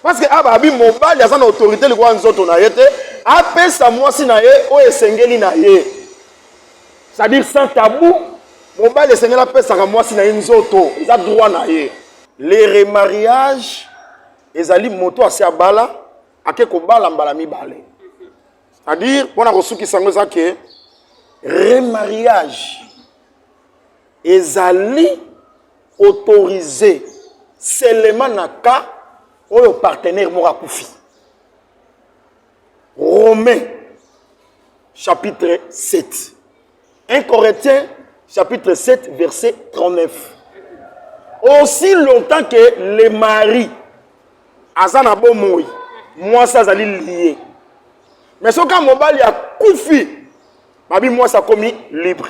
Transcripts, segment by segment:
parce que aba abi mobali aza na autorité likolo ya nzoto na ye te apesa mwasi na ye oyo esengeli na ye c'est-à-dire sans tabou mobali esengeli apesaka mwasi na ye nzoto eza droit na ye le remariage ezali moto asi abala ake kobala mbala mibale c'est-à-dire mpo na kosukisa yango eza ke remariage ezali autorise selema na cas oyo partenaire moko akufi romain chapitre 7 1 corinthiens chapitre 7 verset 39 aussi longtemps que le mari aza na bomoi mwasi azali lie mais soki mobali akufi babi mwasi akomi libre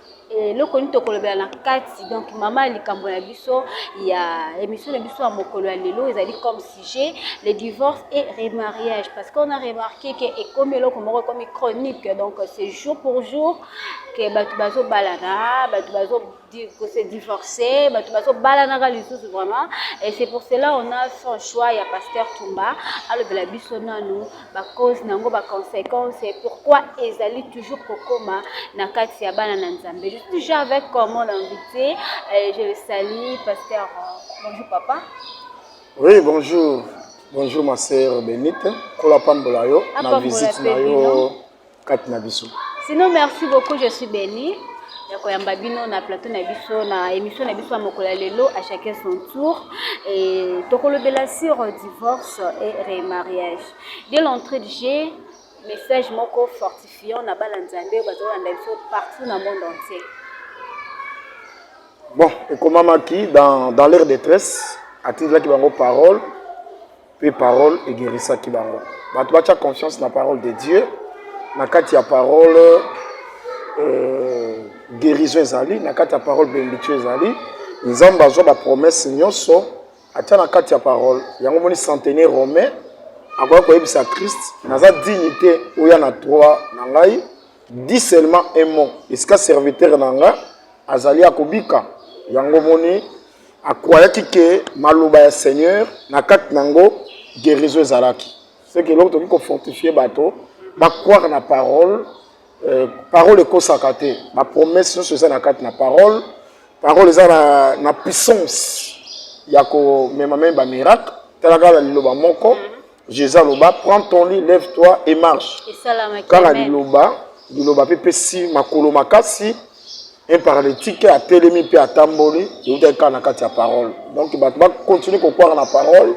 eloko nini tokolobela na kati donc mama ya likambo na biso ya émission na biso ya mokolo ya lelo ezali comme sujet le divorce et remariage parce qu'on a remarqué que ekomi eloko moko ekomi chronique donc c'est jour pour jour que bato bazobalana bato bazo ko se divorcer bato bazobalanaka lisusu vraiment et c'est pour cela on a fait choix ya pasteur tumba alobela biso nanu ba cause nango ba consequence et pourquoi ezali toujours kokoma na kati ya bana na nzambe je suis toujours avec euh, mon invité euh, je le salue pasteur euh, bonjour papa oui bonjour bonjour ma sœur benite kola pambola yo na visite na yo kati na biso sinon merci beaucoup je suis béni ya koyamba bino na plateau na biso na émission na biso ya mokolo ya lelo à chacun son tour et tokolobela sur divorce et remariage dès l'entrée de jeu message moko fortifiant na bana nzambe oyo bazolanda biso partout na monde entier bon ekomamaki dans, dans leur détresse atindelaki bango parole Pe parole egerisaki bango. Bato batia confiance na parole de Dieu, na kati ya parole euh, guérison ezali, na kati ya parole benediction ezali. Nzambe azwa ba promesse nyonso atia na kati ya parole. Yango moni centenaire romain akoya koyebisa Christ, naza digne te oya na trois na ngai, dis seulement un mot, esika serviteur na ngai azali akobika. Yango moni A croyaki que maloba ya Seigneur na kati na yango guerison ezalaki. C'est que eloko tokoki ko fortifier bato ba croire na parole euh, parole ekosaka te ba promesse nyonso eza na kati na parole parole eza na, na puissance ya komema meme bamiracle talaka na liloba moko Jésus aloba, prends ton lit, lève-toi et marche. Kaka liloba, liloba pe pesi makolo makasi, un paralytique a telemi pe atamboli, euta kaka na kati ya parole. Donc bato ba continuer ko croire na parole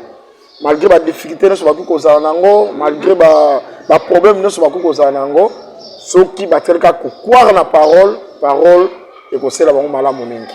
malgré ba difficultés nyonso bakoki kozala na yango, malgré ba ba problèmes nyonso bakoki kozala na yango, soki batikali kaka ko croire na parole, parole ekosela bango malamu mingi.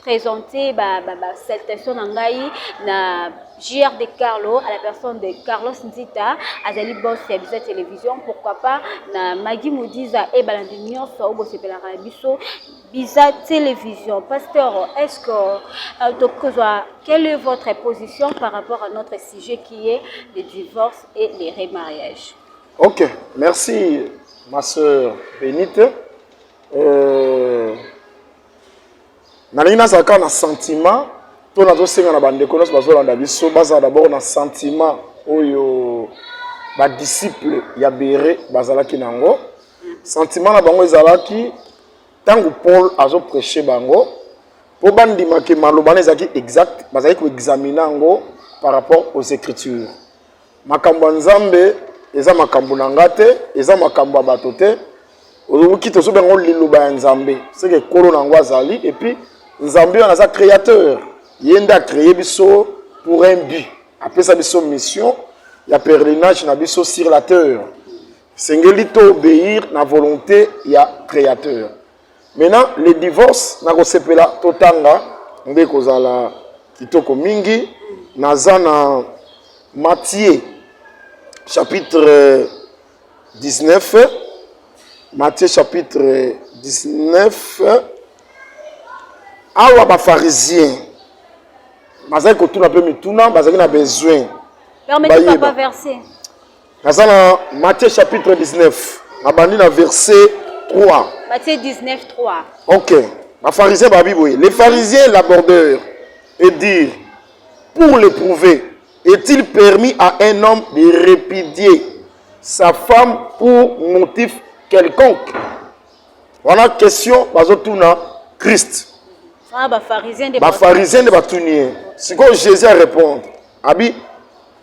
présenter ba, ba, ba salutations na ngai na JR de Carlo à la personne de Carlos Nzita azali boss ya Biza Télévision pourquoi pas na Maggie Modiza et balandi nyonso oyo bosepelaka na biso Biza Télévision pasteur est-ce que euh, tokozwa quelle est votre position par rapport à notre sujet qui est le divorce et les remariages Ok merci ma sœur Benite euh... nalingi nazala kaka na sentiment to nazosenga na bandeko nyonso bazolanda biso bazala dabord na sentiment oyo badisiple ya bere bazalaki na yango sentiment na bango ezalaki ntango paul azopreche bango mpo bandimake maloba na ezalaki exact bazalaki koexamine yango par rapport aux écritures makambo ya nzambe eza makambo na nga te eza makambo ya bato te oyoki tozobenga yango liloba ya nzambe seke ekolo na yango azali epuis nzambe wana aza créateur ye nde acreye biso pour un but apesa biso mission ya pèlerinage na biso sur la terre esengeli to obéir na volonté ya créateur Maintenant, le divorce, nakosepela totanga nde kozala kitoko mingi. Naza na Matthieu chapitre 19. Matthieu chapitre 19. Awa ba pharisiens bazali kotuna mpe mituna, bazali na besoin. Permettez papa verset. naza na matthieu chapitre 19 nabandi na verset 3 matthieu 19 3 ok bafarisien babi boye les pharisiens l'abordeur et dire pour l'éprouver est-il permis à un homme de répudier sa femme pour motif quelconque wana question bazotuna christ bafarisien nde batuni ye sikoyo jésus arépondre abi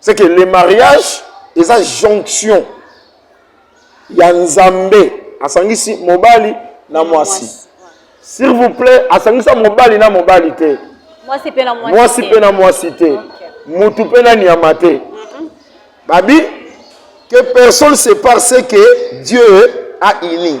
c'est que le mariage eza jonction ya nzambe asangisi mobali na mwasi s'il vous plaît asangisa mobali na mobali te mwasi mpe na mwasi te mutu mpe na nyama te mm-hmm. babi que personne sépare ce que dieu a uni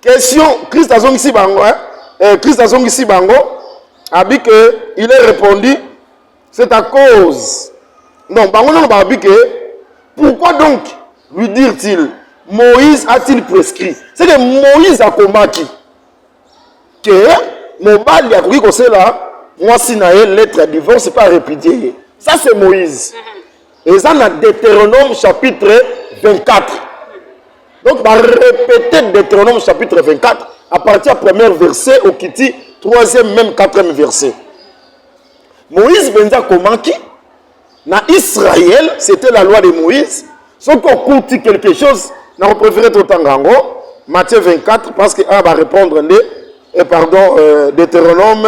Question, Christ azongisi bango, hein? Eh, Christ azongisi bango, abi que il est répondu, c'est à cause. Non, bango non ba abi que pourquoi donc lui dire-t-il Moïse a-t-il prescrit C'est que Moïse a combattu que mobali akoki kosela mwasi na ye lettre ya divorce mpe arepudie ye ça c'est moïse eza na deuteronome chapitre 24 donc barepete deuteronome chapitre 24 à partir ya premier verset okiti troisième même quatrième verset moïse mpenza akomaki na israël c'était la loi de moïse soki okuti quelque chose na kopréféré totanga yango matthieu 24 parce que a barépondre nde et eh, pardon euh, deutéronome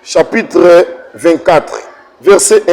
chapitre 24 verset 1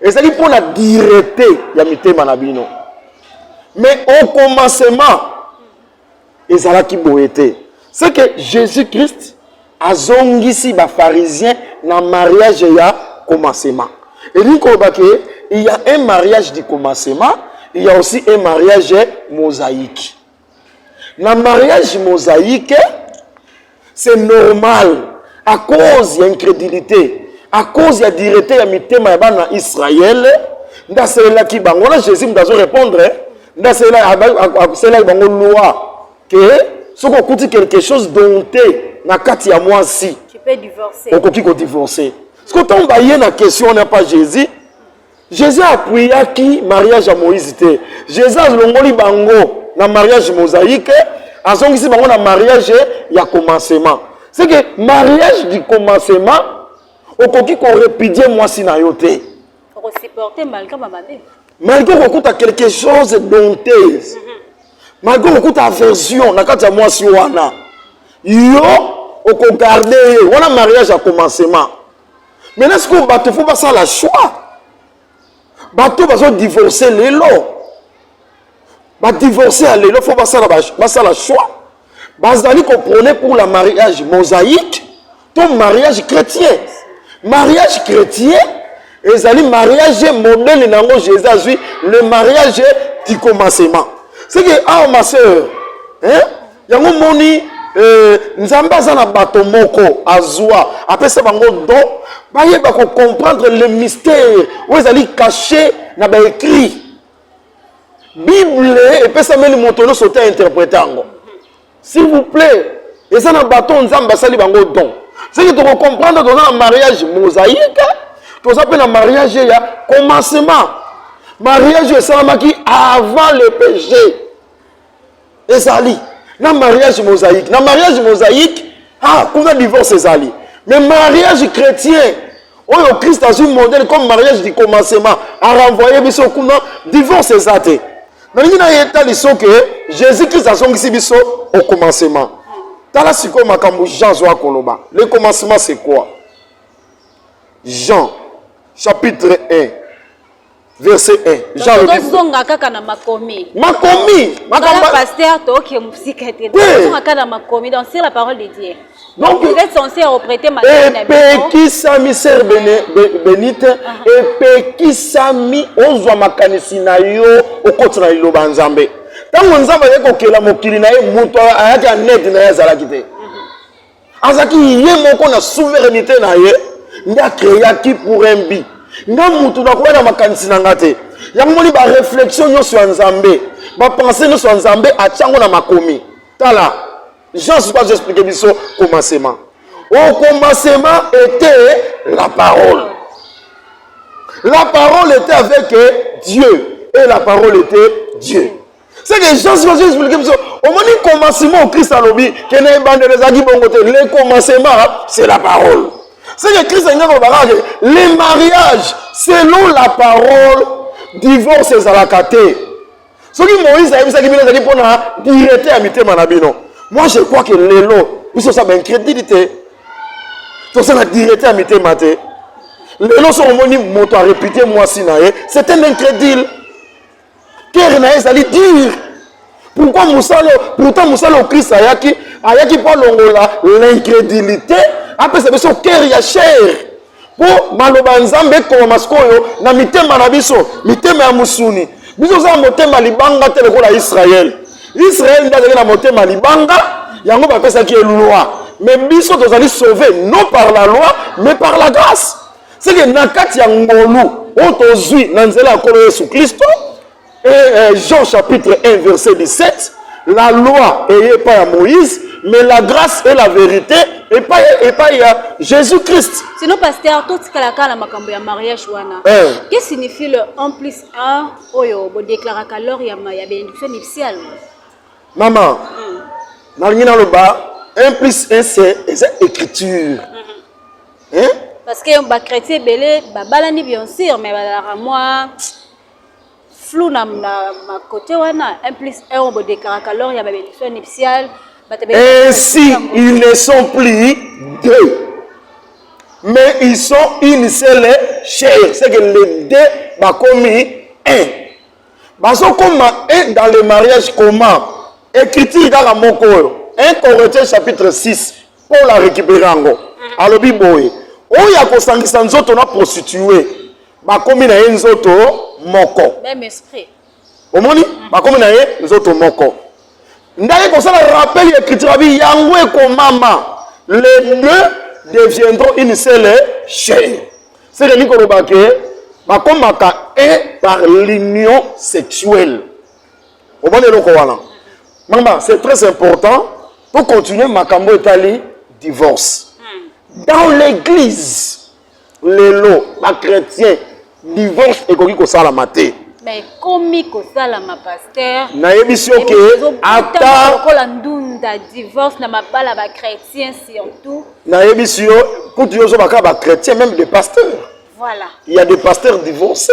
ezali mpo na direte ya mitema na bino mais au commencement ezalaki boye te ce que jésus christ azongisi bafarisien na mariage ya commencement elingi koloba ke il y a un mariage du commencement il y a aussi un mariage mosaïque na mariage mosaïque c'est normal à cause ya incrédulité à cause ya direte ya mitema ya bana israele nde asalelaki bango wana jésus moto azo répondre nde asalelaki bango loi ke soki okuti quelque chose donte na kati ya mwasi okoki kodivorce soki ntango baye na question wana pa jésus jesus apuyaki mariage ya moïse te jesus alongoli bango na mariage mosaïque azongisi bango na mariage ya commencement c'est que mariage du commencement okoki korepudie mwasi na yo te malgré okokuta quelque chose donteuse mhm. malgré okokuta aversion na kati ya mwasi wana yo okogarde ye wana mariage ya commencement maintenant sikoyo bato fo basala choix bato bazodivorce lelo badivorce ya lelo fo basala choix bazali koprone pour la mariage mosaïque to mariage chrétien mariage chrétien ezali mariage modele na yango jésus azwi le mariage tikomasema seke awa ah, ma sœur hein? yango moni eh, nzambe aza na bato moko azwa apesa bango don bayeba kocomprendre le mystère oyo ezali cache na baécrit bible epesameli moto nyonso te interprete yango s'il vous plaît eza na bato oyo nzambe asali bango don soki tokocomprendre toza na mariage mosaïque toza mpe na mariage ya commencement mariage esalamaki avant le péché ezali na mariage mosaïque na mariage mosaïque ah kuna divorce ezali mais mariage chrétien oyo christ azwi modèle comme mariage du commencement arenvoye biso kuna divorce eza te nalingi na ye etali so ke jésus christ azongisi biso au commencement tala sikoyo makambo jean azwa koloba le commencement c'est quoi jean chapitre 1 verset 1 jean lobi tozonga kaka na makomi makomi makamba pasteur toke musika te tozonga kaka na makomi donc c'est la parole de Dieu donc vous êtes censé reprêter ma epekisami sœur benite uh-huh. epekisami ozwa makanisi na yo okoti na liloba ya nzambe ntango nzambe ayaki kokela mokili na ye moto ayaki anede na ye azalaki te azalaki ye moko na souveraineté na ye nde akreaki pour un but nga mutu nakoya na makanisi na nga te yango moni baréflexion nyonso ya nzambe bapense nyonso ya nzambe atya yango na makomi tala jean suka azo explike biso komasema au commencement était la parole la parole était avec dieu et la parole était dieu C'est que gens qui ont expliqué biso omoni commencement Christ alobi que na ebandela ezalaki bongo te le commencement c'est la parole. C'est que Christ alingi koloba kaka ke le mariage selon la parole divorce ezalaka te. Soki Moïse ayebisaki bino ezalaki mpo na direte ya mitema na bino. Moi je crois que lelo biso osa baincrédulité toza na direte ya mitema te. lelo soki omoni moto arepite mwasi na ye c'est un incrédule kere na ye ezali dire pourkui mosala pourtant mosala oyo kristo ayaki ayaki mpo alongola l'incrédulité apesa biso kere ya chere mpo maloba ya nzambe ekomama sikoyo na mitema na biso mitema ya mosuni biso toza na motema libanga te lokola israele israele nde azali na motema libanga yango bapesaki ye loi mais biso tozali sauve non par la loi mais par la grâce seke na kati ya ngolu oyo tozwi na nzela ya nkolo yesu kristo e, e, jean chapitre 1 verset 17 la loi eye epai ya moïse mais la grâce et la vérité epai epai ya jésus christ sino paster totikalaka na makambo ya mariage wana eh. que signifie le en plus un oyo bodeklaraka lors ya bénédiction nuptiale mama hmm. nalingi naloba un plus un c'est eza écriture hmm. hein parce que ba chrétien ebele babalani bien sûr mais bazalaka mwa flou na ma côté wana un plus un oyo bodekaraka lors ya babénédiction nuptiale ainsi ils ne sont plus deux mais ils sont une seule chair c'est que les deux bakomi un bazokoma un dans le mariage comment écriture kaka moko oyo 1 corinthiens chapitre 6 Paul a récupérer yango. Alobi boye, oyo akosangisa nzoto na prostituee, bakomi na ye nzoto moko. Même esprit. Omoni? Bakomi na ye nzoto moko. Ndaki kosala rappel ya écriture abi yango ekomama. Les deux deviendront une seule chair. C'est que nikoloba que bakomaka un par l'union sexuelle. omoni eloko wana mama c'est très important to continuer makambo etali divorce hmm. dans l'église lelo bachrétien divorce ekoki kosalama te ekomi kosalama paster nayebisi yo ke ata lokola ndunda divorce na mabala bachrétien surtout nayebisi yo kutu yo ozobaka bachrétien même des pasteurs voilà il y a des pasteurs divorcés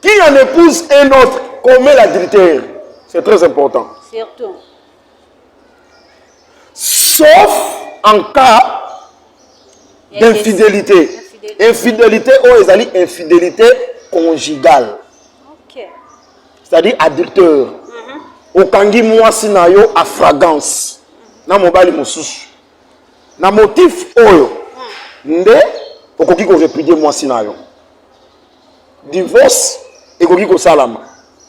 Qui en épouse un autre commet l'adultère. C'est très important. Surtout. Sauf en cas d'infidélité. Infidélité ou oh, ezali infidélité conjugale. Okay. C'est-à-dire adultère. Mm -hmm. Okangi mwasi na yo à fragrance. Mm -hmm. Na mobali mosusu. na motif oyo nde okoki korepudie mwasi na yo divorce ekoki kosalama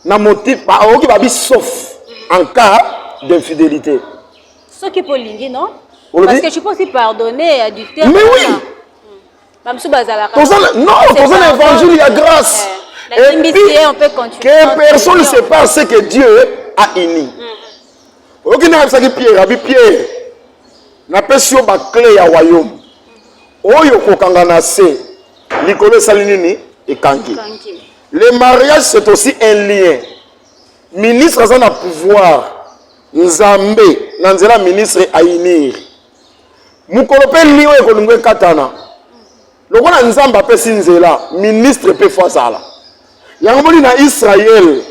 na motif okoki babi sauf en cas d'infidélité soki mpo olingi non parce que tu peux aussi pardonner adultère mais oui bamosusu bazalaka non toza na évangile ya grâce eh, et puis que personne ne sait pas ce que dieu a uni mm. oyoki nde ayebisaki pierre abi pierre napesi yo baclé ya wayome oyo kokanga na se likolo esali nini ekangi le mariage c'est aussi un lien ministre aza na pouvoir nzambe na nzela ministre ainir mokolo mpe lien oyo ekolingo ekatana lokola nzambe apesi nzela ministre mpe fo azala yango moni na israele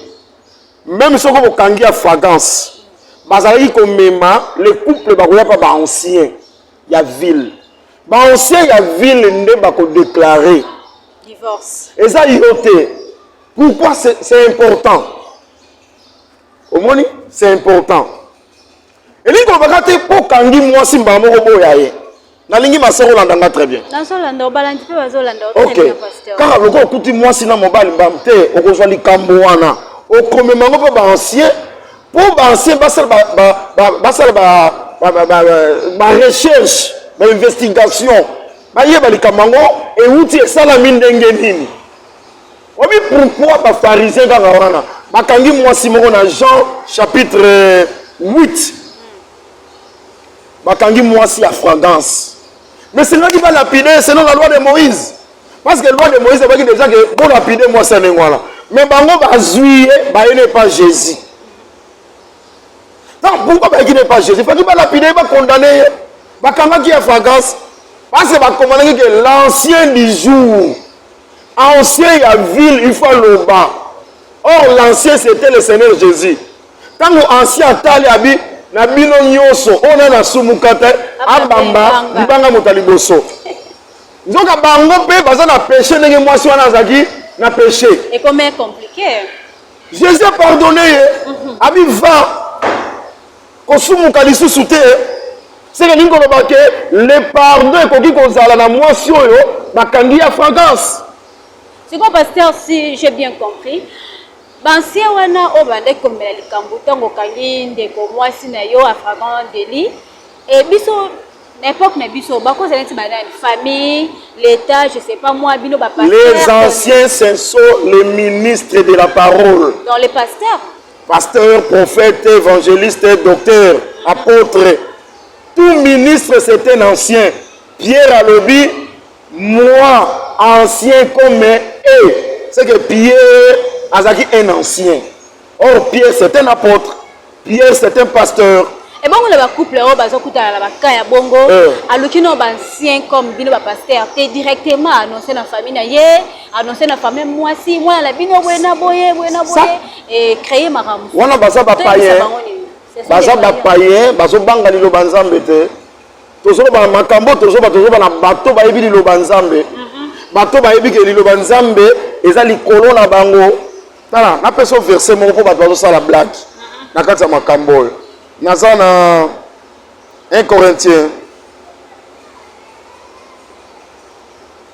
meme soko bokangi ya fragance bazalaki komema le couple bakoya pa ba ancien ya ville ba ancien ya ville nde bakodeklare divorce eza yo te pourquoi c'est important omoni c'est important elingi kolobaka te mpo okangi mwasi mbala moko boya ye nalingi masoko olanda nga très bien ok kaka lokola okuti mwasi na mobali mbam te okozwa likambo wana okomema yango mpo baancien mpo baancien basala barecherche bainvestigation bayeba likambo yango euti esalami ndenge nini Obi pourquoi ba pharisiens kaka wana bakangi mwasi moko na Jean chapitre 8 bakangi mwasi ya fragrance mais esengaki balapide selon la loi de moïse parce que loi de moïse ebaki déjà ke bolapide mwasi ya ndenge wana mais bango bazwi ye baye ne pas jésus donc pourquoi bayaki ne pas jésus faki balapide ye bakondane ye bakangaki ya fragrance parce que bakomanaki ke l'ancien du jour ancien ya ville il faut aloba or l'ancien c'était le seigneur jésus ntango ancien atali abi na bino nyonso oyo nani asumuka te abamba libanga moto ya liboso nzoka bango mpe baza na peshe ndenge mwasi wana azalaki na peshe jésus apardonne ye mhm. abi va kosumuka lisusu te seke elingi koloba ke le pardon ekoki kozala na mwasi oyo bakangi ya fragrance sikoyo paster si j'ai bien compris bansie wana oyo bandaki komela likambo ntango okangi ndeko mwasi na yo afragan deli e biso na epoque na biso bakozala neti banani famille l'état je sais pas moi bino les anciens ce sont les ministres de la parole donc les pasteurs Pasteur, prophète, évangéliste, docteur, apôtre, tout ministre c'est un ancien. Pierre alobi, moi, ancien comme et, c'est que Pierre azaki un ancien. Or, Pierre c'est un apôtre, Pierre c'est un pasteur, ebongo na bacouple oyo bazokutana na baka ya bongo aluki no baancien comme bino bapaster te directement annonce na famille na ye annoncer na famille mwasi mwana na bino boye na boye boye na boye et créer makambo wana baza ba païen baza ba païen bazo banga liloba nzambe te tozoloba na makambo tozoba tozoba na bato bayebi liloba nzambe mhm. bato bayebi ke liloba nzambe eza likolo na bango tala napesa verse moko mpo bato bazosala blague mhm. na kati ya makambo oyo naza na 1 corinthiens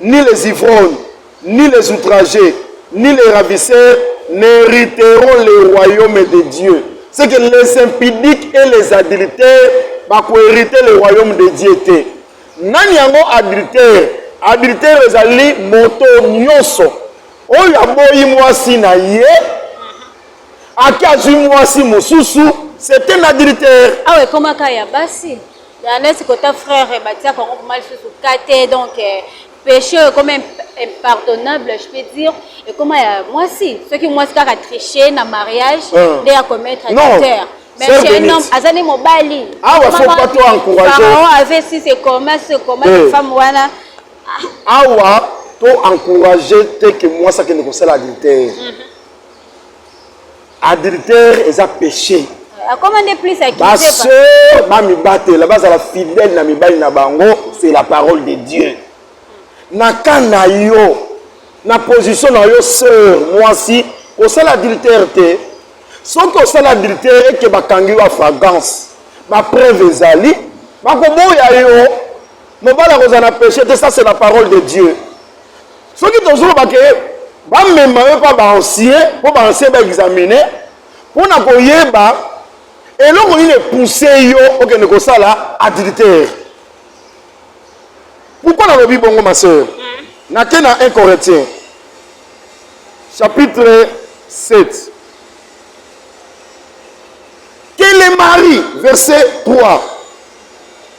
Ni les ivrognes, ni les outragés, ni les ravisseurs n'hériteront le royaume de Dieu. C'est que les impudiques et les adultères bakoherite le royaume de Dieu te. Nani yango adultère? Adultère ezali moto nyonso oyo aboyi mwasi na ye ake azwi mwasi mosusu c'est un adultère. Awa ekomaka ya basi. Ya neti kota frère batia kongo kuma lisusu kate donc eh, péché oyo ekoma impardonnable je peux dire ekoma ya mwasi soki mwasi kaka triche na mariage ah. nde ya commettre adultère mais chez un homme aza nde mobali awa ah, faut pas trop encourager avait si c'est commun ce commun eh. femme wana awa to encourager te que mwasi akende kosala adultère mhm. adultère eza péché akoma nde plus basœur bamibatela bazala fidèle na mibali na bango c'est la parole de dieu na ka na yo na position na yo sœur mwasi kosala adultère te soki osala adultère eke bakangi yo afragance bapreuve ezali bakoboya yo mobali akozala na péché te ça c'est la parole de dieu soki tozoloba ke bamema yo mpa baancien mpo baancien baexamine mpo na koyeba eloko nini epousse yo okende kosala adultère pourkui nalobi bongo ma sœur hmm. nake na 1 corinthien chapitre 7 que les maris verset 3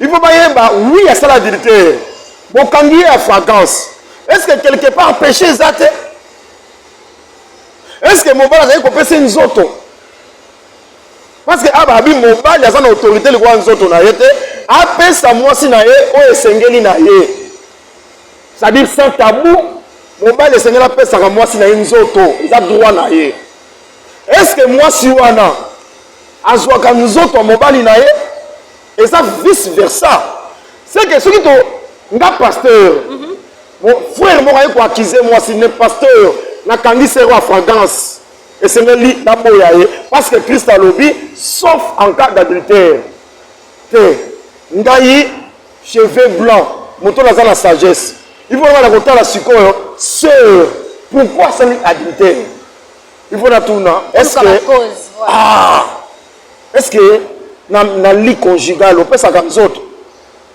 il faut bayeba oui asala adultère bokangi ye ya fragrance est ce que quelque part péché eza te est ce que mobali azali kopesa nzoto parce que aba abi mobali aza na autorité likola nzoto na ye te apesa mwasi na ye oyo esengeli na ye c'est-à-dire sans tabou mobali esengeli apesaka mwasi na ye nzoto eza droit na ye est ce que mwasi wana azwaka nzoto ya mobali na ye eza vice versa seke soki to nga pasteur mhm. frère moko aye koaccuse mwasi ne pasteur nakangi sero ya fragrance esengeli naboya ye parce que christ alobi sauf en cas d'adultère te ngai cheveux blanc moto naza na sagesse il faut na kotala sikoyo sœur pourquoi asali adultère il faut natuna est ce que ah est ce que na, na lit conjugal opesaka nzoto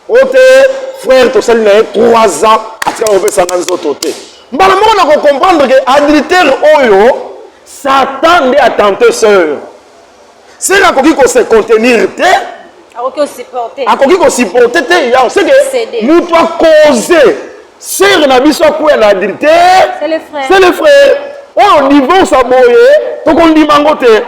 oyo te frère tosali na ye 3 ans atika opesanga nzoto te mbala moko na kocomprendre ke adultere oyo satan nde atente seur sere akoki kose contenir te akoki kosupporte te yango seke moto akoze sere na biso akwea na adultere se le frère oyo divorce aboye tokondima yango te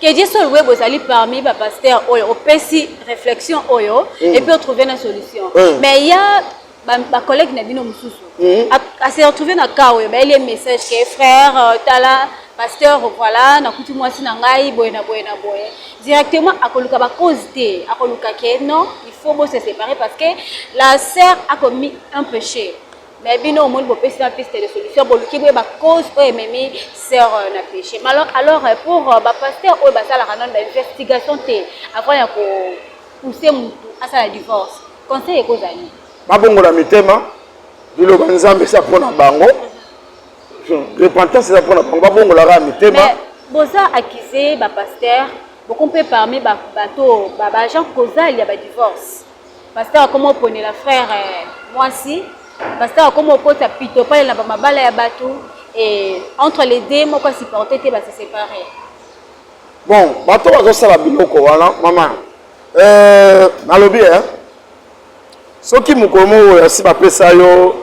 Kediso Luebo ezali parmi ba pasteurs oyo opesi réflexion oyo mm. et puis trouver une solution. Mm. Mais il y a ba, ba collègues na bino mosusu mm. a, a se retrouver na cas oyo bayeli message que frère euh, tala pasteur voilà nakuti mwasi na ngai boye na boye na boye directement akoluka bacause te akoluka ke non il faut bose séparer parce que la sœur a commis un péché Mais bino omoni bopesi na piste de solution boluki boyeba cause oyo ememi sœur euh, na péché alors alors euh, pour euh, ba pasteur oyo basalaka nano ba investigation te avant ya ko pousser mutu asala divorce conseil ekozali babongola mitema liloba nzambe eza mpo na bango repentance eza mpo na bango babongolaka mitema boza accuse bapasteur boko mpe parmi bato baagent causal ya badivorce Pasteur akoma oponela frère mwasi. Pasteur akoma okota pito pale na bamabala ya bato et entre les deux moko asupporte te base séparé. Bon, bato bazosala biloko wana mama euh, nalobi eh? soki mokolo moko oyo asi bapesa yo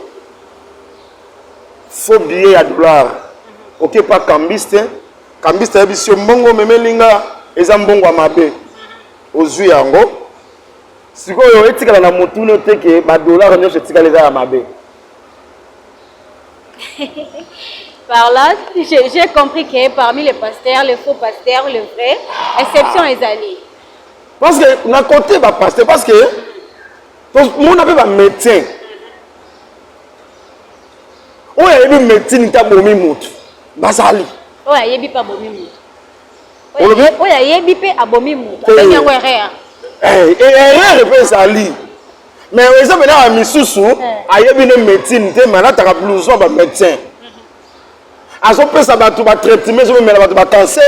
faux billet ya dollar oke pa cambiste cambiste ayebisi yo mbongo omemeli nga eza mbongo ya mabe ozwi yango sikoyo etikala na motuna te ke badolare nyonso etikala eza ya mabe par là j'ai compris que parmi les pasteurs les faux pasteurs le vrai exception ezali parce que na côté bapaster parce que tomona mpe bamédecin oyo ayebi médecine te abomi motu bazali oyo ayebi mpe abomi motu olobi oyo ayebi mpe abomi moto eh. abengi yango erreur eh, eh, erreur mpe ezali mais eza mpe na misusu ayebi ne médecine te malataka blouson ba médecin mhm. azopesa bato batraitement ezomemela bato bacancer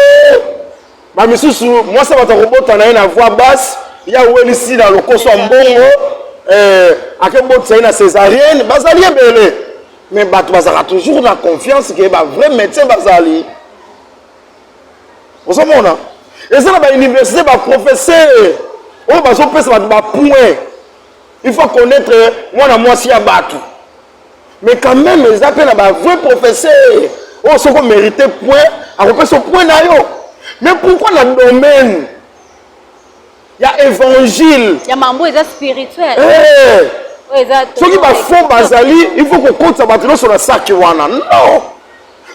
bamisusu mwasi ya bato akobota na ye na voix basse ya welisi na lokoso ya mbongo akebotisa ye na césarienne bazali ebele mais bato bazalaka toujours na confiance ke ba vrai médecin bazali ozomona eza na bauniversité baprofesseur oyo bazopesa bato bapoint il faut connaître mwana mwasi ya bato mais quand même eza mpe na bavrai professeur oyo soki omérite point akopesa point na yo mais pourquoi na domaine ya évangile ya mambo eza spirituel eh. soki bafond bazali il faut kokotisa bato nyonso na saki wana non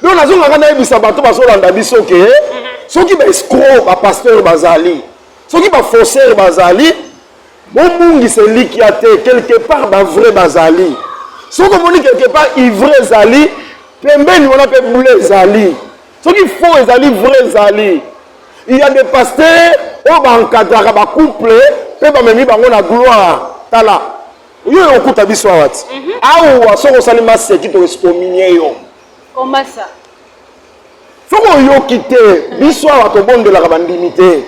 donc nazongaka nayebisa bato bazolanda biso ke mhm. soki baescro bapasteur bazali soki bafaussaire bazali bobungisa elikya te quelque part bavrai bazali soki omoni quelque part ivrai ezali pembeni wana mpe bule ezali soki faux ezali vrai ezali il y a des pasteurs oyo baencadraka bacouple mpe bamemi bango na gloire tala yo oyo okuta biso awa ti mhm. awa soki osali maseki toesikominie yo komasa soki oyoki te mhm. biso awa tobondelaka bandimi te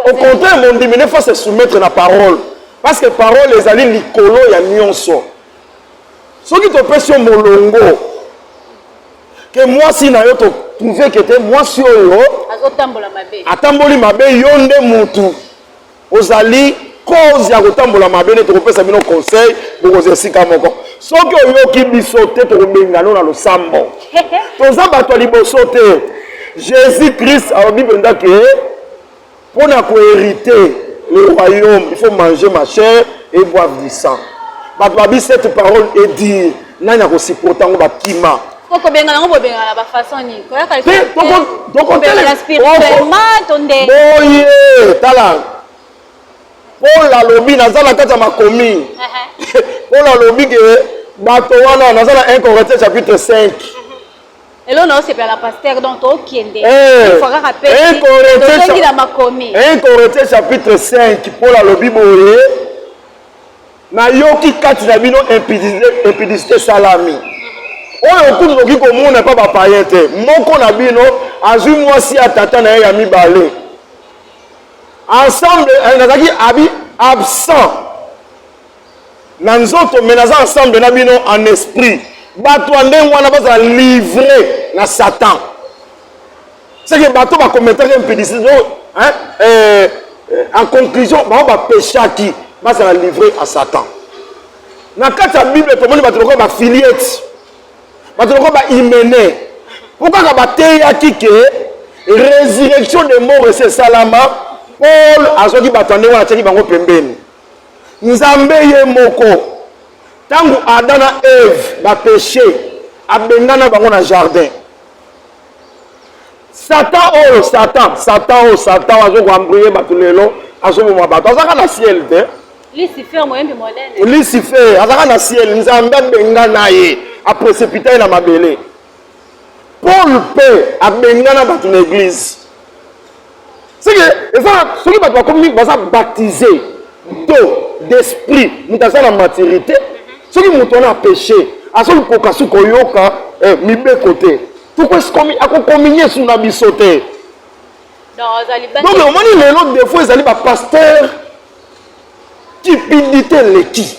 au contraire mondimi ne faut se soumettre na parole parce que parole ezali likolo ya nyonso soki topesi yo molongo ke mwasi na yo totrouve ke te mwasi oyo atamboli mabe yo nde mutu ozali cause ya kotambola mabe nde tokopesa bino conseil bokozwa esika moko soki oyoki biso te tokobengano na losambo toza bato ya liboso te jésus christ alobi mpenza ke Mpo na ko heriter le royaume, il faut manger ma chair et boire du sang. Bato babi cette parole est dire nani akosupporte yango bakima kokobenga yango bobengana ba façon nini koyaka tokobengana spirituellement to nde boye tala paul alobi naza na kati ya makomi paul alobi ke bato wana naza na 1 corinthiens chapitre 5 Elo na osepela na pasteur donc tokende eh, fois kaka pe tozongi na makomi 1 Corinthiens chapitre 5 Paul alobi boye nayoki kati na bino impudicité esalami oyo kutu tokoki komona epa bapayen te moko na bino azwi mwasi ya tata na ye ya mibale ensemble eh, nazalaki abi absent na nzoto mais naza ensemble na bino en esprit bato ya ndenge wana bazala livre na satan seke bato bakometaki impudicité hein, eh, en conclusion bango bapeshaki bazala livre à satan na kati ya bible tomoni bato lokola bafiliete bato lokola baimene mpo kaka bateyaki ke résurrection de mort esi esalama paul azwaki bato ya ndenge wana atiaki bango pembeni Nzambe ye moko ntango Adam na Eve bapeche abengana bango na jardin. Satan oyo Satan Satan oyo Satan azo koambrie bato lelo azoboma bato azaka na ciel te lucifer azaka na ciel nzambe abengana ye apresepita ye na mabele paul mpe abengana bato na eglize C'est que soki bato bakomi baza baptisé to d'esprit moto aza na maturité soki moto wana apeshe azokoka su koyoka eh, mibeko te akokominye su na biso te donc omoni lelo defo ezali bapaster cupidité eleki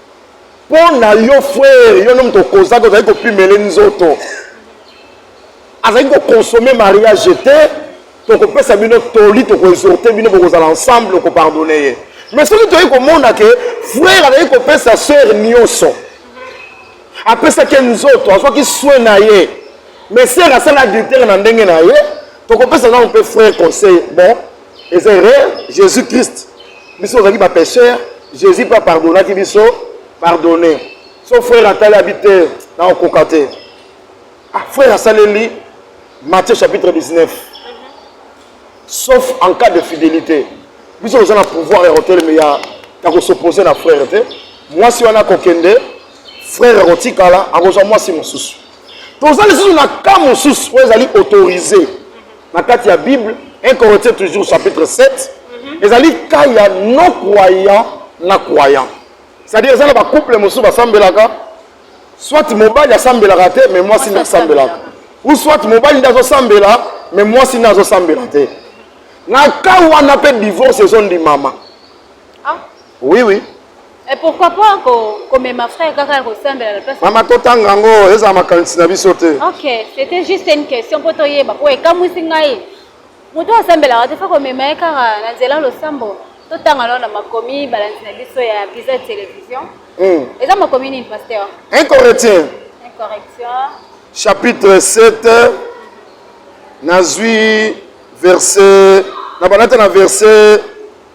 mpo na yo frere yo nde moto okozaki ozali kopimele nzoto azali kokonsome mariage te tokopesa bino toli tokoexorte bino bokozala ensemble okopardone ye mais soki toyei komona ke frere azali kopesa sere nyonso apesaki nzoto azwaki swe na ye mais sere asala adultere na ndenge na ye tokopesa nano mpe frere conseil bon eza erreur jésus christ biso ozalaki bapêcheur jésus mpe apardonaki biso pardonne so frère atali abi te na okoka te ah, frère asaleli matthieu chapitre 19 sauf en cas de fidélité biso toza na pouvoir ya koteleme ya ya kosopose na frère te mwasi wana akokende frère akotikala akozwa mwasi mosusu toza lisusu na cas mosusu oyo ezali autorise na kati ya bible 1 corinthiens toujours chapitre 7 mhm. ezali cas ya non croyant na croyant c'est-à-dire eza na bacouple mosusu basambelaka soit mobali asambelaka te mais mwasi nde asambelaka ou soit mobali nde azosambela mais mwasi nde azosambela te na cas wana mpe divorce ezondimama ah. oui oui Et eh, pourquoi pas ko mema frère kaka ya kosambela la place mama totanga yango ezala makanisi na biso te ok c'était juste une question mpo toyeba mpo ekamwisi ngai moto asambelaka te fa komema ye kaka na nzela losambo totanga lona makomi balanzi na biso ya visa télévision hmm. eza makomi nini pasteur incorrectien incorrection chapitre 7 nazwi verset na banata na verset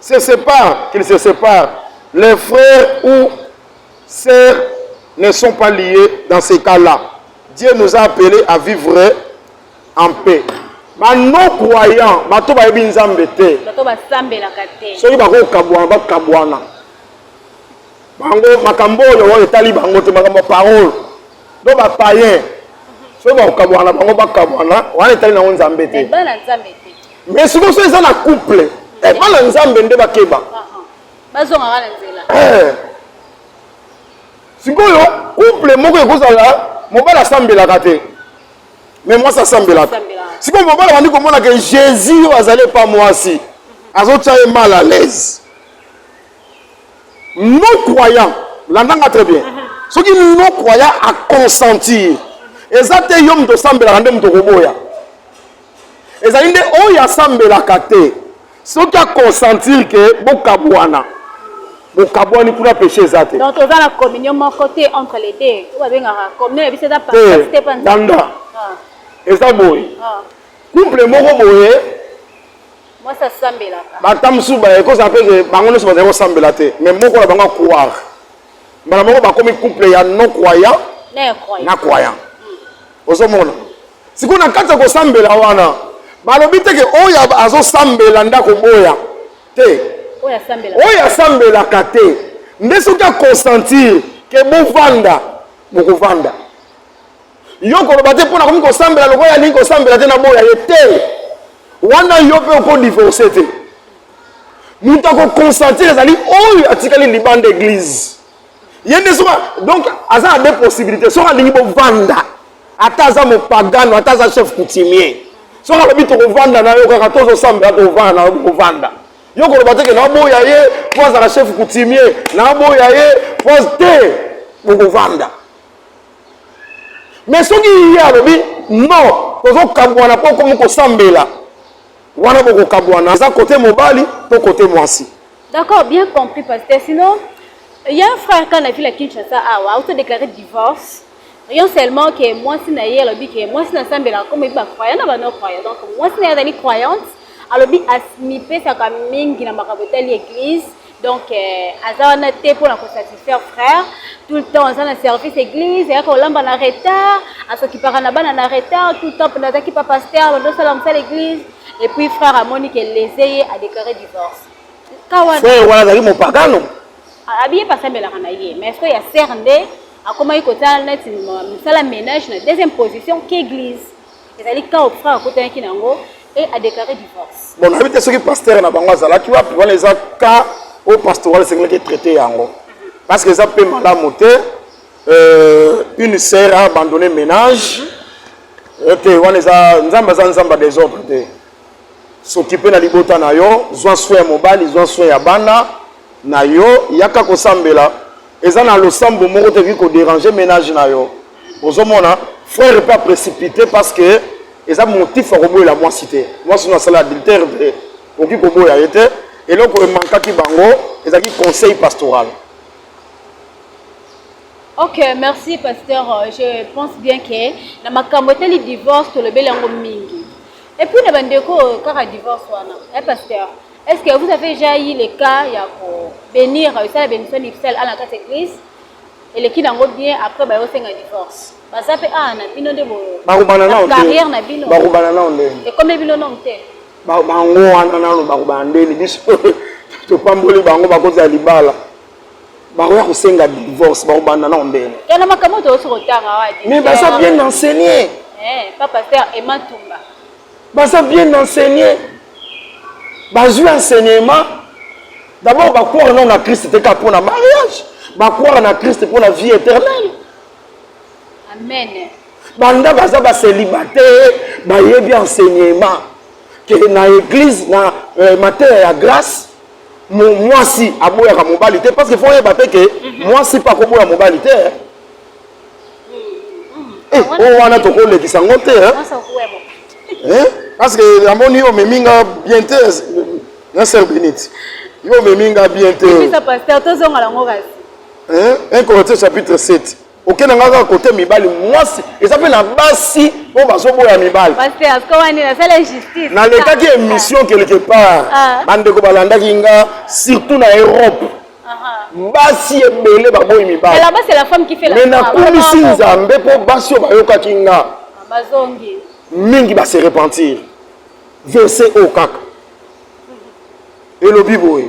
se sépare qu'il se sépare les frères ou sœurs ne sont pas liés dans ces cas là Dieu nous a appelé à vivre en paix ba non croyant bato bayebi nzambe te soki bakokabwana bakabwana bango makambo oyo oyo etali bango te makambo ya parole donc ba païen soki bakokabuana bango bakabuana wana etali nango nzambe te mais sikoyo so eza na couple eh, bana nzambe nde bakeba ah, ah. bazongaka na nzela eh. sikoyo couple moko ekozala mobali asambelaka te mais mwasi asambelaka sikoyo mobali abandi komona ke jésus oyo azali epa mwasi azotya ye mal à l'aise non croyant landa nga très bien soki non croyant aconsentir eza te yo moto osambelaka nde moto okoboya ezali nde oyo asambelaka te soki aconsentir ke bokabwana bokabwani kuna péché eza te donc toza na communion moko te entre les deux oyo babengaka communion ya biso eza te danda ah. eza boye ah. couple moko boye mwasi asambelaka bata mosusu baekozala mpe ke bango nyonso bazali kosambela te mais moko na bango acroire mbala moko bakomi couple ya non croyant na croyant ozomona sikoyo na kati ya kosambela wana balobi te ke oyo azosambela nde akoboya te oyo asambelaka te nde soki akonsentir ke bovanda bokovanda yo koloba te mpo nakomi kosambela lokola alingi kosambela te naboya ye te wana yo mpe okodivorce te moto akokonsentire ezali oyo atikali libanda eglize ye nde soki donc aza na de possibilité soki alingi bovanda ata aza mopagano ata aza chef coutumier soki alobi tokovanda na yo kaka tozosambela tovanda na yo kovanda yo koloba teke naboya ye mpo azala chef coutumier naboya ye mpo te bokovanda me soki ye alobi non tozokabwana mpo okomi kosambela wana bokokabwana eza kote mobali to kote mwasi d'accord bien compris pasteur sinon il y a un frère quand la ville à Kinshasa awa auto déclaré divorce rien seulement que mwasi na ye alobi ke mwasi na sambela comme ebi bacroyant na bano croyant donc mwasi na ye azali croyante alobi amipesaka mingi na makambo etali église donc euh, aza wana te mpo na kosatisfaire frère tout le temps aza na service église eyaka kolamba na retard asokipaka na bana na retard tout le temps mpona azaki pa paster bandosala mosala église et puis frère amoni ke lese ye adéclaré divorce frère wana azali mopagano abiye pasambelaka na ye mais soki ya ser nde akomaki kosala neti mosala ménage na deuxième position k'église ezali kao frère akotanaki na yango e adeklare divorce bon nayebi te soki pasteur na bango azalaki wapi wana eza ka oyo pastoral esengelaki etraite yango parce que eza mpe malamu te euh, une sœur a abandonné ménage euh, te wana eza nzambe aza nzambe ya desordre te S'occuper na libota na yo, zwa soin ya mobali, zwa soin ya bana na yo, yaka kosambela. Eza na losambo moko te ekoki koderange menage na yo. Ozomona frère mpe aprécipite parce que eza motif ya koboyela mwasi te. Mwasi no asala adultère te, okoki koboya ye te. Eloko emankaki bango ezalaki conseil pastoral. Ok, merci pasteur. Je pense bien que na makambo etali divorce tolobeli yango mingi. Et puis na bandeko kaka divorce wana. Eh pasteur, est-ce que vous avez déjà eu le cas ya ko bénir esala bénédiction nuptiale à la carte église eleki nango bien après bayo senga divorce. Baza pe ah na bino nde bo. Bakubana nao te. Carrière na bino. Bakubana nao nde. Et comme bino non te. Ba bango wana nano bakubana nde biso topamboli bango bakozala libala. bakoya kosenga divorce bakobanda nao mbele yana makambo toyosi kotanga wadi mais baza bien enseigné eh, pa pasteur ema tumba baza bien enseigné bazwi enseignement d'abord bakwara nao na kriste te ka mpo na mariage bakwara na kriste mpo na vie éternelle amen banda baza bacelibataire bayebi enseignement ke na église na euh, mateya ya grâce mwasi aboyaka mobali te parce que fo oyeba mpe ke mhm. mwasi mpe akoboya mobali te eh, eh ah, oyo wana tokolekisa yango te eh. eh, parce que namoni yo omemi nga bien te na sœur benite yo omemi nga bien te un corinthiens chapitre 7 okenda nga kaka kote mibali mwasi eza mpe na basi oyo bazoboya mibali nalekaki émission quelque part ah. bandeko balandaki nga surtout na europe basi ebele baboyi mibali me nakumisi nzambe mpo basi oyo bayokaki nga ah, mingi base repentir verse oyo kaka elobi boye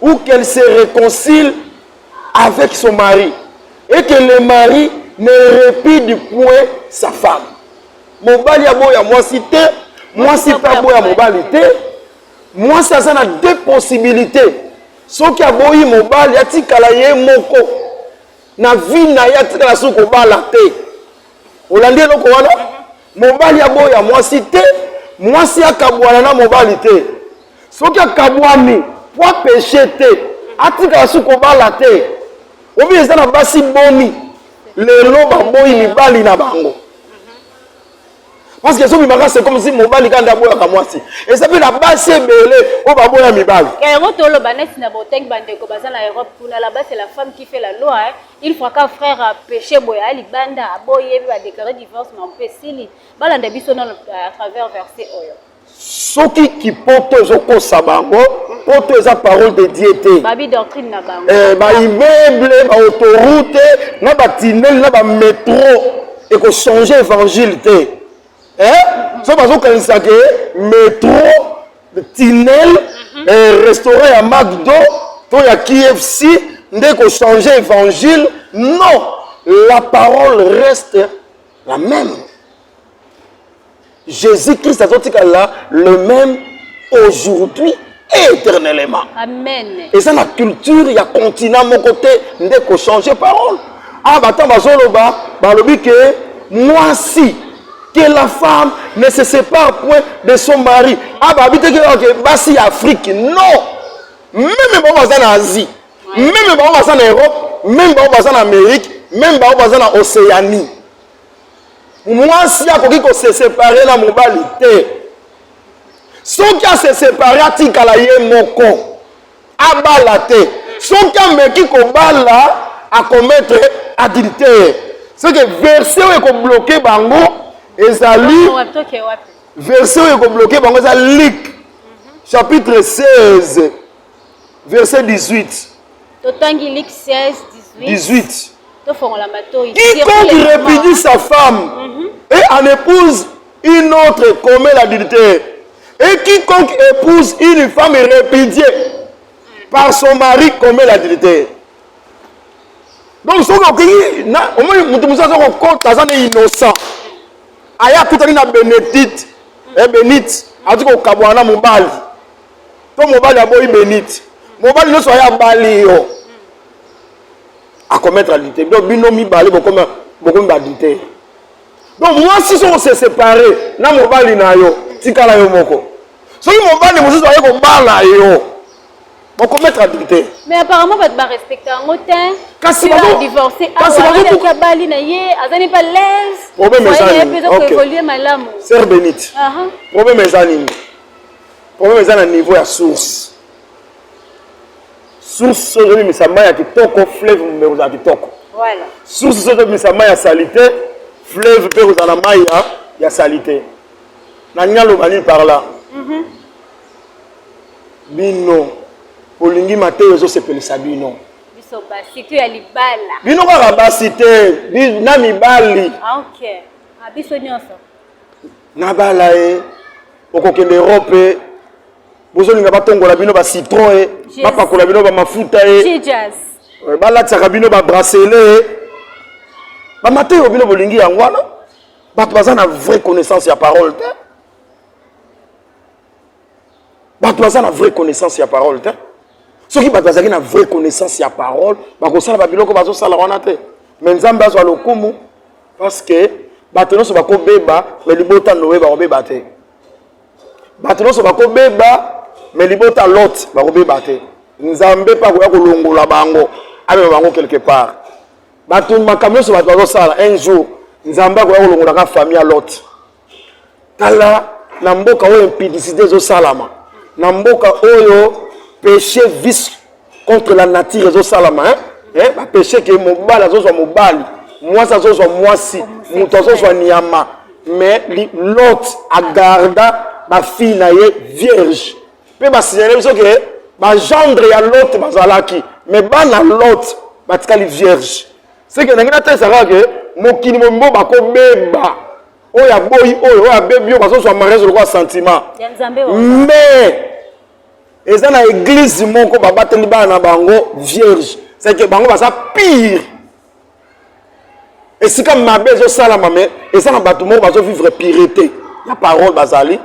ou qu'elle se reconcilie avec son mari et que le mari ne répide point sa femme. Mobali aboya mwasi te, mwasi pe aboya mobali te. Mwasi aza na deux possibilités. Soki aboyi mobali atikala ye moko na vie na ye atikala soki kobala te. Olandi eloko wana? Mobali aboya mwasi te, mwasi akabwana na mobali te. Soki akabwani po apeshe te, atikala su kobala te. Obi eza na basi boni lelo baboyi mibali na bango parce que ezo bimaka c'est comme si mobali kanda aboyaka mwasi eza mpe na basi ebele oyo baboya mibali yango toloba neti na botangi bandeko baza na europe kuna la base la femme qui fait la loi Il faut ka frère a péché boya à libanda aboye yebi ba déclarer divorce ma mpe sili balanda biso na à travers verset oyo. Soki kipoto ezokosa bango poto eza parole de Dieu te. Babi doctrine na bango. Eh ba immeuble ba autoroute na ba tunnel na ba métro eko changer évangile te. Eh? Mm -hmm. So bazokanisa ke métro tinel mhm. eh, restaurant ya macdo to ya kfc nde kochange évangile non la parole reste la même jésus christ azotikala le même aujourd'hui et éternellement eza na culture ya continent moko te nde kochange parole ah bato bazoloba balobi ke mwasi que la femme ne se sépare point de son mari aba ah, abitaki oke basi ya afrique non meme bango baza na asie meme bango baza na europe meme bango baza na amérique meme bango baza na océanie mwasi akoki kosesepare na mobali te soki asesepare atikala ye moko abala te soki ameki kobala akometre adultère seke verse oyo ekobloke bango ezali verse oyo ekobloke bango eza luk chapitre 16 verset 18 totangi luk 16 18 tofongola matoi quiconque repudie sa femme mm -hmm. et en épouse Une autre commet l'adultère. Et quiconque épouse une femme répudiée par son mari commet l'adultère. Donc soki okeyi na omoni moto mosusu aza kokota aza na innocent aya akutani na benedite e benite azali kokabwana na mobali to mobali aboyi benite mobali nyonso aya abali yo akometre adultère donc bino mibale bokomi badultère donc mwasi soko se separe na mobali na yo tikala yo moko soki mobali mosusu aye kobala yo okometre adultère mais apparemment bato barespecte yango te kasi divorce awaaki abali na ye aza ne pa laisepeza malamu ser benite problème eza nini problème eza na niveau ya source source soki ozobimisa mai ya kitoko fleuve mpe kozala kitoko source soki ozobimisa mai ya salite fleuve mpe kozala mai ya, ya salite nalingi aloba nini par là mhm. bino bolingi mateyo ezosepelisa bino bino kaka basi te na mibali ah, okay. ah, biso nyonso nabala ye okokende europe bozolinga batongola bino ba citron e bapakola bino bamafuta e euh, balatisaka bino babrasele e bamata oyo bino bolingi yango wana bato baza na vraie connaissance ya parole te bato baza na vraie connaissance ya parole te soki bato bazalaki na vraie connaissance ya parole bakosala babiloko bazosala wana te me nzambe azwa lokumu parce que bato nyonso bakobeba me libota noye bakobeba te bato nyonso bakobeba me libota lot bakobeba te nzambe mpe akoya kolongola bango amema bango quelque part bato makambo nyonso bato bazosala un jour nzambe akoya kolongolaka famille ya lot tala na mboka oyo impudicité ezosalama na mboka oyo péché vice contre la nature ezosalama hein? eh, bapeche ke mobali azozwa mobali mwasi azozwa mwasi moto azozwa nyama mais lot agarda bafille na ye vierge mpe basignale biso ke bagendre ya lot bazalaki mais bana lot batikali vierge seke nange natalisa kaka ke mokili mombo bakobeba oyo aboyi oyo oyo abebi oyo bazozwa mariage lokola sentiment mais eza na eglise moko babateli bana na bango vierge ceke bango baza pire esika mabe ezosalama me eza na bato moko bazovivre pirete ya parole bazali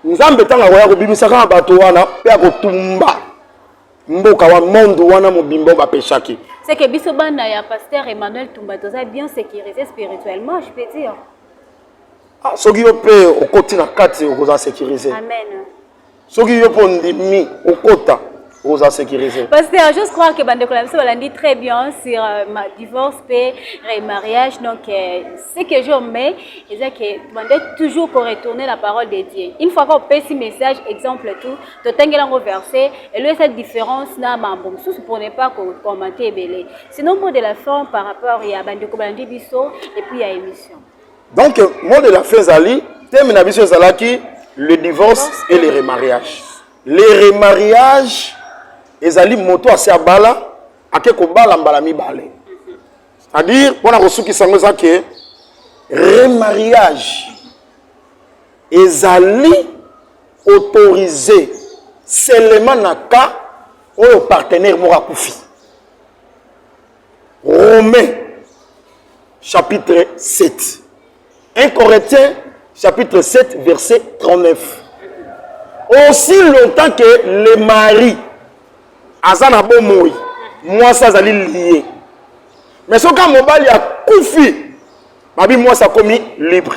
nzambe ntango akoya kobimisaka na bato wana mpe akotumba mboka wa monde wana mobimba oyo bapeshaki seke biso bana ya pasteur emmanuel tumba toza bien sécurisé spirituellement je peux dire ah, soki yo mpe okoti na kati okozala sécurisé amen soki yo mpe ondimi okota oza sécurisé parce que j'ose croire que bandeko na biso balandi très bien sur euh, ma divorce mpe remariage donc euh, ce que je mais eza que bande toujours koretourner la parole de dieu une fois kopesi message exemple tout totangela yango verset elo esa différence na mambo mosusu pour ne pas kocommante ebele sinon mot de la fin par rapport ya bandeko balandi biso et puis ya émission donc mot de la fin ezali teme na biso ezalaki le divorce et le remariage le remariage ezali moto asi abala ake kobala mbala mibale c'est-à-dire mpo na kosukisa yango eza ke remariage ezali autorise seulement na cas oyo partenaire moko akufi Romains chapitre 7. 1 Corinthiens chapitre 7 verset 39. Aussi longtemps que le mari aza na bomoi, mwasi azali liye. Mais soki mobali akufi, babi mwasi akomi libre.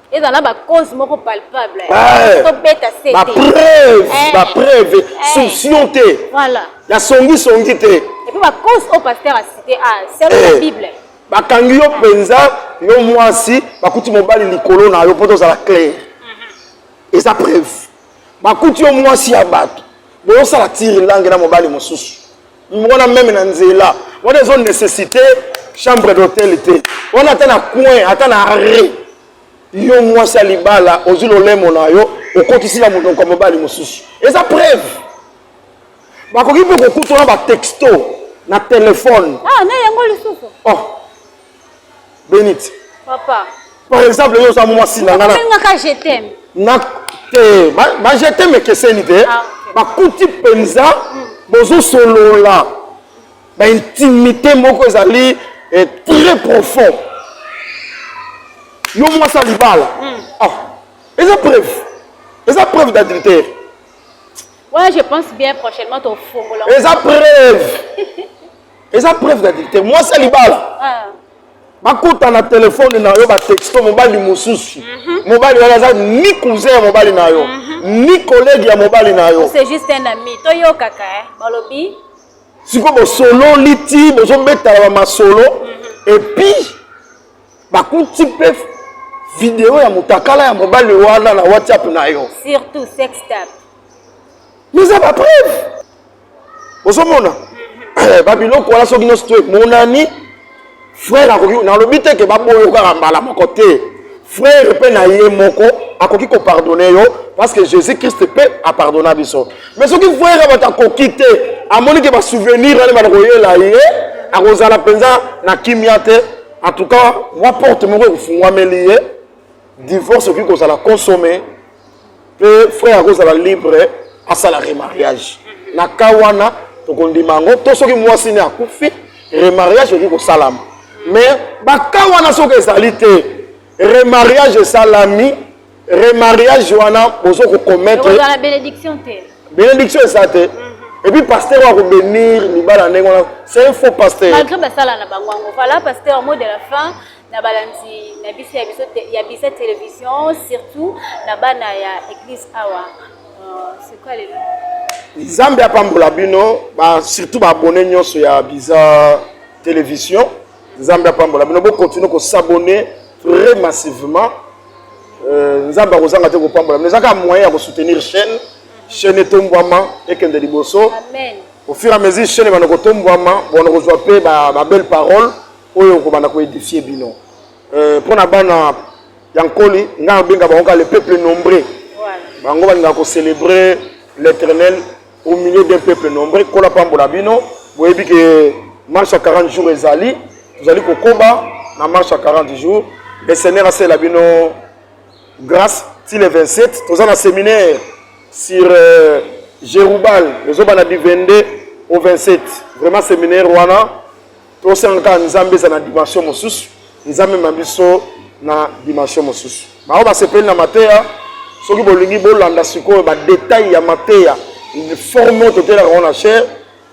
eza na bacause moko palpable eh, tobeta sete bapreuve eh. bapreuve eh. souption te voilà ya songisongi te epuis bacause oyo paster acite a ah, selo ya bible bakangi yo mpenza yo mwasi bakuti mobali likolo na yo mpo tozala claire mhm. eza preuve bakuti yo mwasi ya bato boyosala tiri lange na mobali mosusu wana meme na nzela wana ezo necessite chambre d'hôtel te wana ata na coin ata na arret yo mwasi ya libala ozwi lolemo na yo okotisi na monoko ya mobali mosusu eza preuve bakoki mpe kokutana batexto na telefone ah, na yango lisusu oh. Benite. Papa. Par exemple, yo oza mwasi na ngana. Nabengaka je t'aime. Na te, ba, ba je t'aime ekeseni te. Ah, okay. Bakuti penza mm. bozo solola. Ba intimité moko ezali eh, très profond. Yo mwasi alibala. Mm. Ah. Eza preuve. Eza preuve d'adultère. Ouais, je pense bien prochainement ton fongola. Eza preuve. eza preuve d'adultère mwasi ya libala ah. bakota na telefone na yo batexto mobali mosusu mhm. mobali wana aza ni cousin ya mobali na yo mhm. ni collègue ya mobali na yo c'est juste un ami toyokaka eh, balobi sikoyo bosololi ti bozobetala bamasolo mhm. epuis bakuti mpe video ya motakala ya mobali wana na whatsapp na yo surtout sextap eza bapreuve ozomona eh, babiloko wana soki nyonso to emonani frere akoki nalobi te ke baboyo kaka mbala moko te frere mpe na ye moko akoki kopardone yo parce que jésus christ mpe apardona biso mais soki frere bato akoki te amoni ke basouvenir wana bana koyela ye akozala mpenza na kimia te en tout cas mwa porte moko ekofungwameli ye divorce okoki kozala consomme mpe frère akozala libre asala remariage na ka wana tokondima yango to soki mwasi ne akufi remariage okoki kosalama mais baka wana soki ezali te remariage esalami remariage wana bozo kokometre benediction eza te mm. Et puis pasteur wa kobenir libala ndenge wana c'est un faux pasteur malgré basala na bango yango voilà pasteur mot de la fin na balandi na biso ya biso ya bisa television surtout na bana ya eglise awa euh, sikoyo lelo nzambe apambola bino ba, surtout baabone nyonso ya biza television nzambe apambola bino bokontinue kosabone très massivement euh, nzambe akozanga te kopambola bino ezaka moyen ya kosoutenir chaîne chaîne etombwama ekende liboso au fur et à mesure chaîne ebanda kotombwama bona kozwa mpe babelle parole Oyo okobanda ko edifier bino. Euh, pona bana ya nkoli ngai nabenga bango kaka le peuple nombreux bango balingaka kocélébrer l'éternel au milieu d'un peuple nombreux kola pambola bino boyebi ke marche ya 40 jours ezali tozali kokoba na marche ya 40 jours le seigneur asalela bino grâce ti le 27 toza na séminaire sur euh, jerubal ezobana du 22 au 27 vraiment séminaire wana tosengaka kaka nzambe ezala na dimension mosusu eza mema biso na dimension mosusu bango basepeli na mateya soki bolingi bolanda sikoyo badetail ya mateya forme totelaka ngo na chere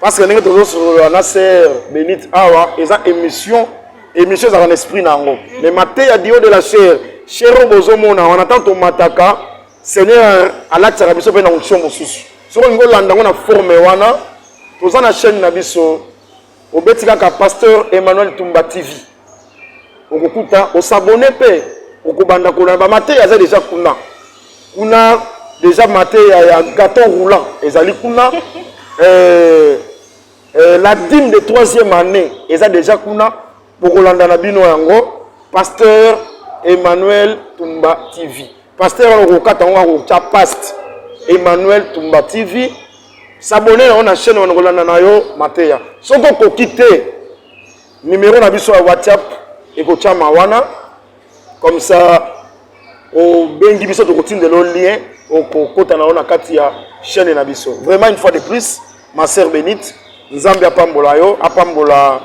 parce que ndenge tozosolola na ser benite awa eza émission émission ezalaka na esprit na yango mais mateya dio de la chere chere oyo bozomona wana ntango tomataka seigneur alatisaka biso mpe na onction mosusu soki olingi olanda ngo na forme wana toza na chaîne na biso obeti kaka pasteur emmanuel tumba tv okokuta osabone mpe okobanda kolona bamateya aza deja kuna kuna deja mateya ya gaton roulant ezali kuna euh, euh, la dime de troisième année eza deja kuna bokolanda na bino yango pasteur emmanuel tumba tv pasteur wana okokata yango akotya past emmanuel tumba tv sabone yango na chaîne wana kolanda na yo mateya soki okoki te nimero na biso ya whatsapp ekotyama wana comme ça obengi biso tokotindela lien okokota na yo na kati ya chaîne na biso vraiment une fois de plus ma sœur benite nzambe apambola yo apambola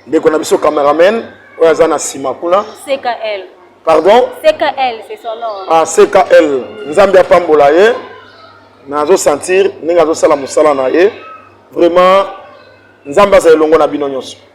ndeko na biso cameraman oyo aza na nsima kuna ckl pardon ckl c'est son nom ah ckl nzambe apambola ye nazo sentir ndenge azosala mosala na ye vraiment nzambe azala elongo na bino nyonso